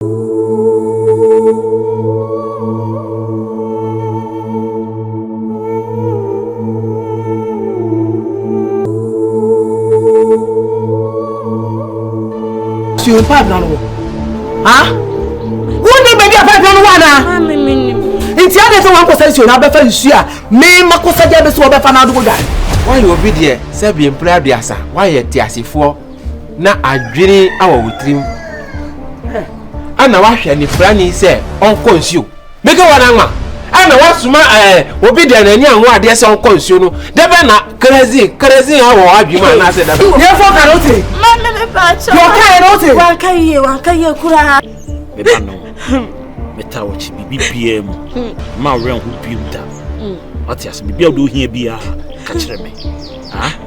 Suyo pa abina no wɔ. Ha? Wonni baabi a pa abina no wɔ anaa? Maame mi nim. Nti adi sɛ wɔn akɔsa nsuo na abɛfa nsuo a mee ma kɔsa gya bɛ so wɔbɛfa n'adogo dwa. Wɔayɛ obi deɛ sɛ bi mpere aduasa wɔayɛ te asefoɔ na adwene wɔ wo tirim ɛna wahwɛ anifrani sɛ ɔnkɔ nsuo meke wɔn anwa ɛna wasoma ɛɛ eh, obi deɛ n'ani anwo adeɛ sɛ ɔnkɔ nsuo no dɛbɛ na kerezin kerezin awɔ adwuma mu anaasɛ dɛbɛ. yɛ fɔ kan o ti. maame mi fa akyɛ. yɔ ka yɛ n'o ti. wa ka yie wa ka yie kura. mi ba nɔ mi ta wɔ kyi bibi bie mu maa wɛn ho bie mu da ɔte ase bibi a o de o hiɛ bia ka kyerɛ mi.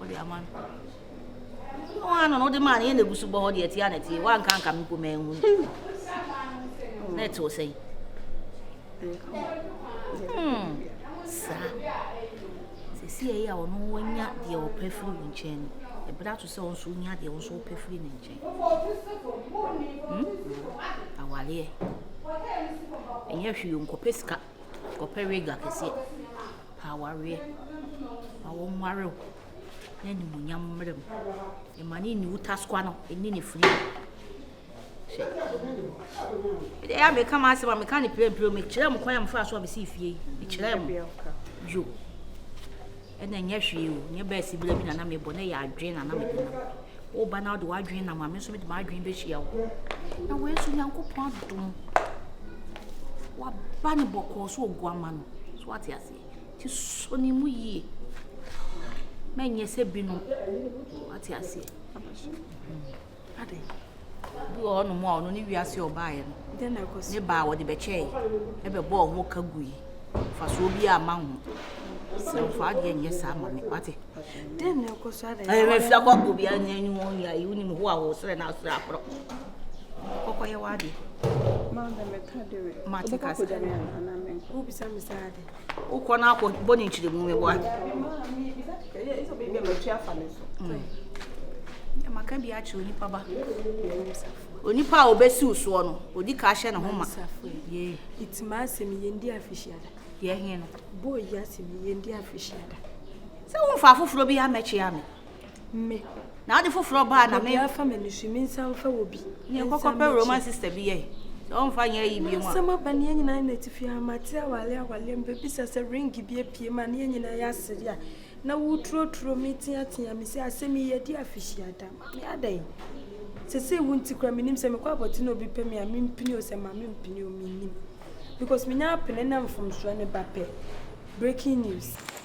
wode ama no wɔn ano no wode maa no yɛ na egu so bɔ hɔ deɛ ɛte a na ɛte wanka nka me mpo ma ehu na ɛte wɔ sɛn saa sisi ɛyɛ a ɔno wanya deɛ ɔpɛ firi wo nkyɛn no ɛbɛrɛ ato sɛ ɔnso nya deɛ ɔnso ɔpɛ firi ne nkyɛn hmm? awareɛ ɛnyɛ hwee nkɔpɛ sika Wɔpɛ w'agua kɛseɛ pɛ awareɛ ma wo nware wo na animuonyam mmra mu ɛma ne nni wo taskoa no ɛnni ne firi hwɛ ɛdɛ yɛ a meka ma asɛm a meka ne prɛmprɛ mekyerɛ m kwan a mefaa so a mesii fie yi mekyerɛ m yo Ɛna ɛnyɛ hwee o, nyɛ bɛɛsi bla bi na na mebɔ, na ɛyɛ adwene na na mede nam. Woba na wode w'adwene nam a, me nso mede m'adwene bɛhyia wo. Na wei nso Nyankopɔn adom, waba ne bɔkɔɔ so oguama no. So wate aseɛ? Nti sɔ ne mu yie. Mɛnyɛ sɛ binom. Wate aseɛ? Aba so. Mm. ade bi wɔ hɔnom a ɔno ne wiase ɔbaeɛ no ne baa wɔde bɛkyɛe ɛbɛbɔ ɔho ka gui fasoɔ bi a ma ho srɛmfa adeɛ nyɛ saa ma me wate mafia kɔ obiara nya ni ho yɛ ayi wonim ho a wo srɛ no asrɛ akorɔ kɔkɔyɛ w'adeɛ mate kasa wobisa me saa ade wokɔ no akɔ bɔ ne nkyerɛmu meboa maka bi akyerɛ onipa ba onipa a obɛsiw soɔ no odi ka hyɛ ne ho ma ɛtima asɛm yɛndi afihyiada yɛhe no bɔɔ yi asɛm yɛndi afihyiada sɛ womfa afoforɔ bi amɛkyea me Me. Na ade foforɔ baa na me. Obiara fa me nusu me nsa mfa wɔ bi. Ne nkɔkɔ pɛ Roman sister bi yɛ. Sɛ ɔmfa nyɛ yi bi mu. Asɛm aba ne yɛn nyinaa na tifi a mate awale awale mbɛbisa sɛ ring bi apue ma ne yɛn nyinaa yɛ asere a na woturoturo me teatea me sɛ asɛm yi yɛde afihyia da ma me adɛn sese wo nti kora menim sɛ mekɔ abɔte na obi pɛ me a mempini o sɛ ma mempini o menim because menya apene na mfomsoɔ ne ba pɛ breaking news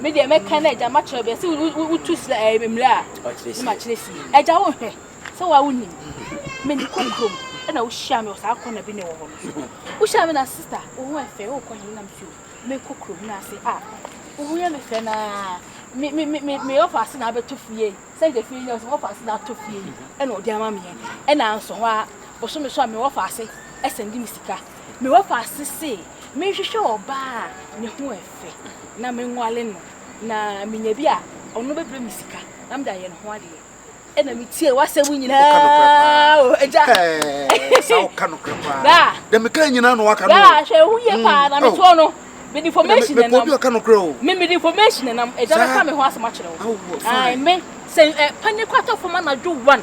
Me deɛ mɛka na agya makyerɛ bɛ sɛ wotu srɛ ɛyɛ eh, mmerɛ a ne makyerɛ sie agya wo nhwɛ sɛ woa wonim mene kɔ kurom ɛna wohyia me wɔ saa kɔna bi ne wɔ hɔ no wohyia me na sista wo ho ɛfɛ wokɔ hene nam sɛ mekɔ kurom no ase a wo ho yɛ me fɛ naa me ɔfa ase na abɛtɔ fie sɛ nka fie nyɛ sɛ ɔfa ase na atɔ fie ɛna ɔde ama meɛ ɛna nso hɔ a bosome so a mewɔ fa ase ɛsɛnde me sika mewɔ fa ase se mehwehwɛ ɔbaa ne ho ɛfɛ ase na menguale no na menya bi a ɔno bɛbrɛ me sika na mede ayɛ ne ho adeɛ ɛna metie w'asɛm nyinaa o agya saa woka nokorɛ paa dɛ meka nyinaa na waka no hwɛ ɛho yie mm. paa na metoɔ no mede information ɛnam bi ɔka nokorɛ o me mede information ɛnam agya bɛka me ho asɛm akyerɛ wo me sɛ panyɛ kɔ atɔ fam anadwo one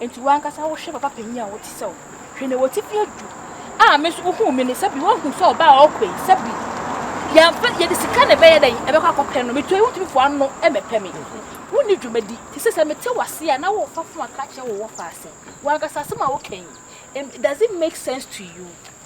Enti w'ankasa wohwɛ papa panyin a ɔte sɛ wo. Hwɛ nea ɔte fi adu. A me nso wohuu me no, sɛ bi woahu sɛ ɔbaa a ɔkɔ yi, sɛ bi yɛamfa yɛde sika na ɛbɛyɛ dɛn ɛbɛkɔ akɔpɛ no. Metuae wontumi foa ano mmɛpɛ me. Wonni dwumadi. Te sɛ sɛ mete w'ase a na worefa fon aka akyerɛ wo wɔfa ase. W'ankasa asɛm a woka yi, it doesn't make sense to you.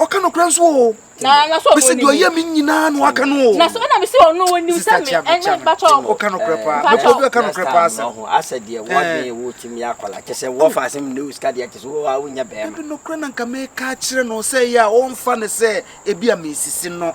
ɔka nokorɛ nso o mese deɛ ɔyɛ me nyinaa na waka no o sista kyea me kyea me ɔka nokorɛ paa mepɔ bi ɔka nokorɛ paa sɛ asɛ deɛ wɔadwen ɛwɔ tumi akwala kyɛ sɛ wɔfa asɛm ne osika deɛ kyɛ sɛ wɔ a wonya bɛɛma ɛbi nokorɛ na nka meka kyerɛ no sɛ yɛ a ɔmfa no sɛ ebi a mesisi no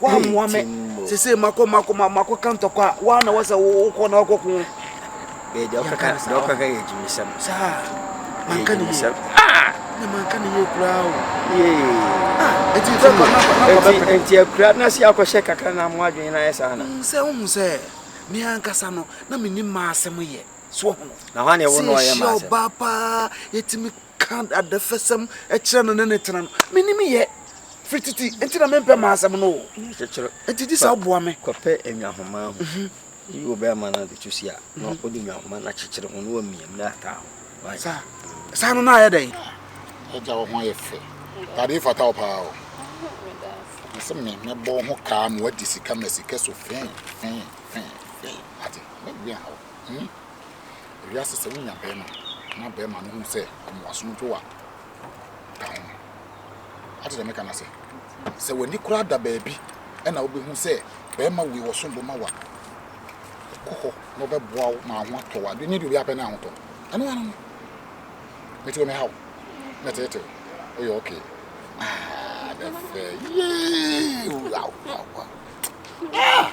woammoa me sese makɔ makɔ makɔ ka ntɔkwa a woa na wɔsɛ wokɔ na wakɔ ko saa manka ne yie na manka ne yie koraa o ɛti fɛ kɔ na kɔbɛpɛ nti akura na se akɔhyɛ kakra na mo adwene na ayɛ saa na sɛ wohu sɛ me ankasa no na menni maa asɛm yɛ so ho na hɔ ne wo na ɔyɛ maa asɛm sɛ ɔbaa paa yɛtumi ka adɛfɛsɛm kyerɛ no ne ne tena no menim yɛ firi titi nti na mempɛ ma asɛm no o nti gye sɛ woboa me kɔpɛ nnwahoma ho mhm. yi wɔ bɛrima no de to si a na mhm. wode nnwahoma no akyekyere ho na wamiam na ataa ho saa saa no na ayɛ dɛn agya wo ho ayɛ fɛ tade fata wo paa o sɛ me mɛbɔ ho kaa ma wadi sika ma sika so fee fee fee fee ate mɛbia hɔ Ewiase sɛ wonya barima na barima no hu sɛ ɔma w'asom dwo a, ka ho. Ate deɛ meka no ase? Sɛ w'ani koraa da baabi na wobɛhu sɛ barima wei wɔsom bo ma wo a, kɔ hɔ na ɔbɛboa wo ma ho atɔ wo adwene nyɛ deɛ obiara pɛ na ahotɔ. Ɛno ano no. Mete wɔ me haw. Na tete wo. Woyɛ okay. Ah, the fair. Yee! Wow, wow, wow. Ah!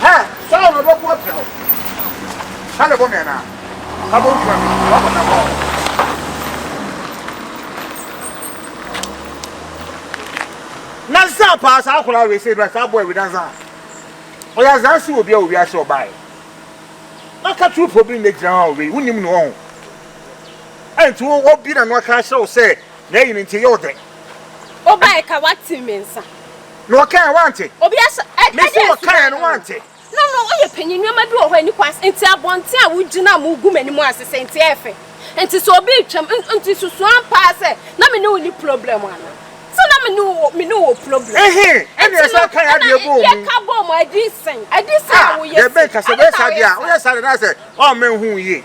Ha! Saa na ɔbɛko agyina hɔ. Ha na ɛbɔ me anaa? Ha bɔ ntua me. Ɔba bɔ na bɔ. Na saa paa saa akwadaa wei sɛ saa boy wei dansa a ɔyɛ azansi wɔ bia wɔ wiase ɔbaeɛ na ka true problem na gyina hɔ a wei wonim no ɔho ɛnti wo obi na no aka ahyɛ wo sɛ na ɛyi no nti yɛ ɔdɛ wobae ka wate me nsa Na wɔkae a, wante. Obi aso ɛd ɛde Mese wɔkae a, asuban na no. wante. No no woyɛ panyin nneɛma bi wɔ hɔ a ɛni kwan nti abɔnten a wogyina a mogu m'anim ase sɛ nti ɛyɛ fɛ nti sɛ obi retwam n nti susu ampa ara sɛ na me ne wo nni problem anaa sɛ na me ne wo wɔ me ne wo wɔ problem Ehe, ɛna nti no yɛsan kae ɛna adeɛ bɔɔ mu. yɛka bɔɔ mu a ɛde sɛn ɛde sɛn a Ah, woyɛ deɛ se ɛbɛn ka sɛ ɛde woyɛ sɛn a saa deɛ woyɛ a, sɛn. woyɛ saa deɛ na ayɛ sɛ ɔmma nhu wo yie.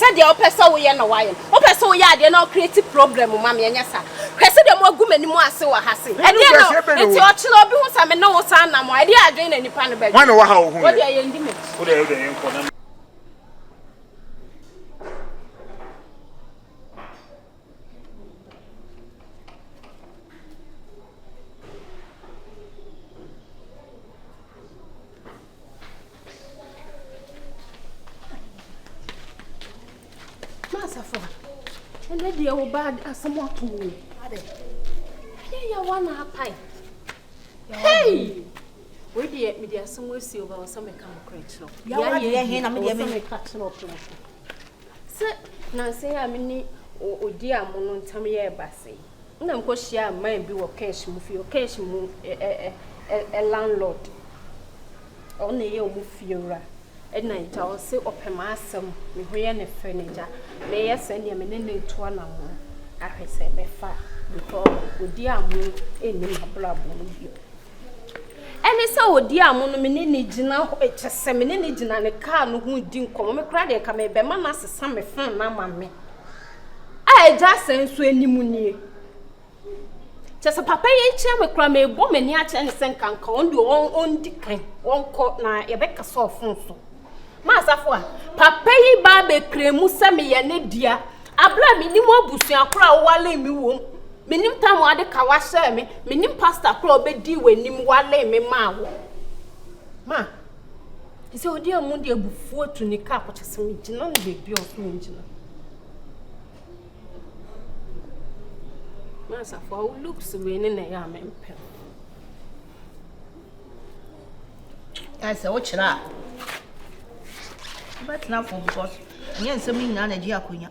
sɛdeɛ wopɛ sɛ woyɛ na wayɛ no wopɛ sɛ woyɛ adeɛ na wo create problem ma me ɛnyɛ saa hwɛ sɛdeɛ mo agu m'anim ase wɔ ha se ɛdeɛ na nti ɔkyena obi ho sɛ me ne wo san nam a ɛdeɛ adwene na nipa no bɛdwe wane wɔ ha ohu yɛ yɛ ndi m'akyi Masafo, ɛnɛ deɛ wo ba asɛm ato mu. Yɛyɛ wa na apae. Hey! Wei deɛ mede asɛm asi wo ba wɔ sɛ meka nokorɛ kyerɛ wo. Yɛayɛ deɛ he na medeɛ meka kyerɛ wo prɛko. Sɛ nanse a me ne odi a mo no ntam yɛ ɛba se. Nna mokɔhyiaa man bi wɔ Kersh mu fie, Kersh mu ɛ-ɛ-ɛ-ɛ-ɛ landlord, ɔno na ɔyɛ ɔmo fiewura, ɛna agya ɔse ɔpɛ m'asɛm, me ho yɛ ne fɛ na agya meyɛ sɛ neɛ me ne no retu anamɔn ahwɛ sɛ ɛbɛfa a because ɔdi amo nni m'abrabɔ mu bio. Ɛne sɛ ɔdi amo no me ne no gyina hɔ, kyɛ sɛ me ne no gyina ne kaa no ho di nkɔmmɔ, me koraa deɛ nka mebɛma no asesa me phone no ama me. A agya asɛe nso anim nie. Kyɛ sɛ papa yi nkyɛn me koraa mebɔ m'ani akyerɛ ne sɛ nkanka ɔn deɛ ɔndi kan ɔnkɔ na yɛbɛka sɛ ɔfon so. Maasafo a papa yi baa bɛkura mu sɛ meyɛ ne dea abere a menim abusua koro a wowale me wom menim tam a ɔde ka wahyɛɛ me menim pasta koro a ɔbɛdii w'anim wale me maa wo ma Te sɛ odi amu de abufuo atu ne ka akɔkyɛ sɛ megyina no baabi a ɔsɛ megyina. Mansafo a wo looks wei ne na ɛyɛ a mempɛ. Ayɛ sɛ wokyerɛ a wobɛtena fam because ɛnyɛ nsɛm no nyinaa na ɛgye akonnwa.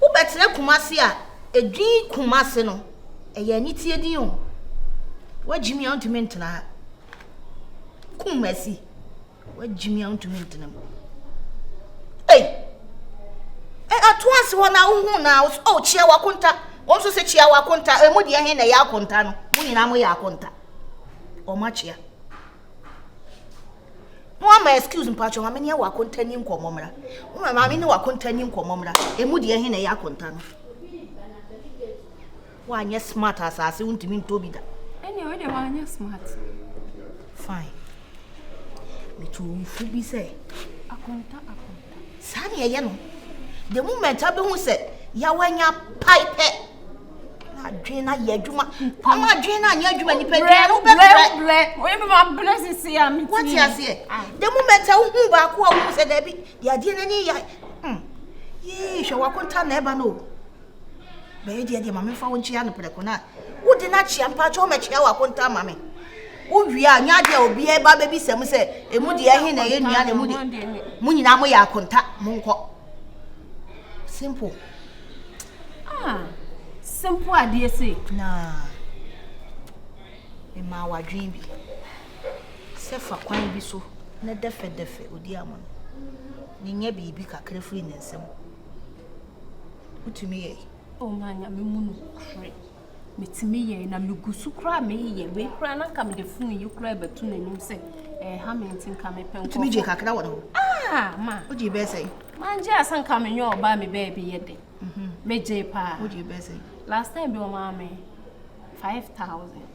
Wobɛtena Kumasi a edin Kumasi no ɛyɛ aniteɛ din o Woagyimi a wontumi ntena ha Kumasi Woagyimi a wontumi ntena mu Ei eh, Ato ase hɔ na wohu na wo so oh kyia wakonta Wɔn nso sɛ kyia wakonta Emu deɛ he na ɛyɛ akonta no Mo nyinaa mo yɛ akonta Wɔn akyia No ama excuse mpacho maame ne ɛwɔ akonta ni nkɔmɔ mmra. No ama maame ne wɔ akonta ni nkɔmɔ mmra. Emu deɛ he na ɛyɛ akonta no. Woanyɛ smart asase wontumi ntɔ bi da. Ɛnna ɛwɔ deɛ woanyɛ smart. Fine. Metu nfu bi sɛ. Akonta akonta. Saa na ɛyɛ no. The moment abɛhu sɛ yawanya pae pɛ. adwene no ayɛ adwuma ama adwene no anyɛ adwuma nipadua no wobɛbrɛ woyɛmemabrɛ sese a mewate aseɛ da mu mɛtɛ wohu baako a wohu sɛ daabi deɛ adeɛ no ani yɛ hmm. yii hwɛ wakonta na ɛba no bɛyɛ deɛ deɛ ma memfa wo nkyea no prɛko no a wode no akyea mpa kyɛ womɛkyea wakonta ma me wowie a nya deɛ obiaa ba bɛbisɛm sɛ ɛmu deɛ ɛhe na ɛyɛ nua na ɛmu deɛ mo nyinaa moyɛ akonta monkɔ simple Ah, simple adeɛ sei. Na memaa wadwene bi sɛ fa kwan bi so na dɛfɛdɛfɛ odi ama no. Nyɛ biribi kakra firi ne nsam. Wotumi yɛe. Oh, ma nyame mu no kure. metumi yɛe na me gu so koraa meyɛ wei koraa na nka mede fon yi koraa bɛto n'anim sɛ ɛha me nti nka mepɛ nkɔfo. Tumi gye kakra wɔ ne ho. Ah ma. O gye bɛɛ sɛ. Ma n gye asa nka me nyɛ ɔbaa mi bɛɛ bi yɛ de. Mhm. Me gye paa. O gye bɛɛ sɛ. Last time bi ɔmaa me five thousand.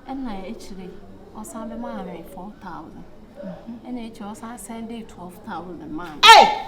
Ɛna ekyire ɔsan bɛ maa me four thousand. Mhm. Ɛna ekyire ɔsan sɛn de twelve thousand maa me. Hey!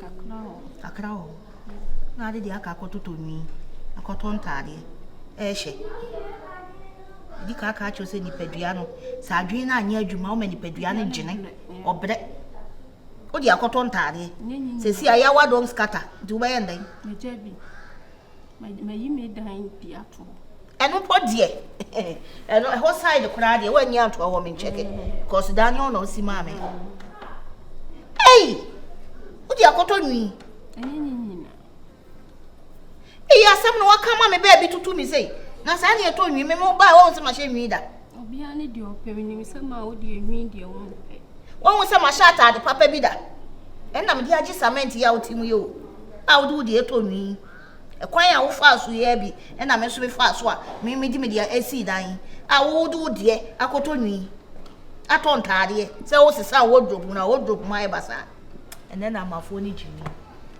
Kakra wɔ hɔ. Kakra wɔ hɔ. Na ade deɛ aka akɔtotɔ nwi, akɔtɔ ntaadeɛ rehyɛ. Ɛdi kan aka akyerɛ sɛ nipadua no, sɛ adwene no anyɛ adwuma, woma nipadua no gyene, ɔbrɛ. Wode akɔtɔ ntaadeɛ. Sɛsi a yɛawa don't scatter, nti wobɛyɛ ndɛn? Megya bi. Mayi me dan bi ato hɔ. Ɛno mpo deɛ ɛno ɛhɔ side koraa deɛ wɔanyi ato hɔ me nkyɛke because mm. dan no na ɔsi maa me. Ei! Wodi akɔtɔ nwi. Ɛnyɛ nyinyi na. Eyi asɛm no waka ma me baabi tutu mi sei. Na saa ne ɛtɔ nwi me mo baa wɔn sɛ mahyɛ nwi da. Obiara ne deɛ ɔpɛ, menim sɛ ma wo deɛ nwi deɛ wo mpɛ. Woahu sɛ mahyɛ ataade papa bi da? Ɛnna mede agye samɛnti a wote mu yɛ o, a wode wo deɛ tɔ nwi yi. Ɛkwan a wofaa so yɛɛ bi na me nso mefaa so a me mede me deɛ asii dan yi, a wo wode wo deɛ akɔtɔ nwi, atɔ ntaadeɛ, sɛ woresesa wo wardrobe no a wardrobe mu ayɛ basaa. Ɛnnɛ na amafoɔ ani gye nwi.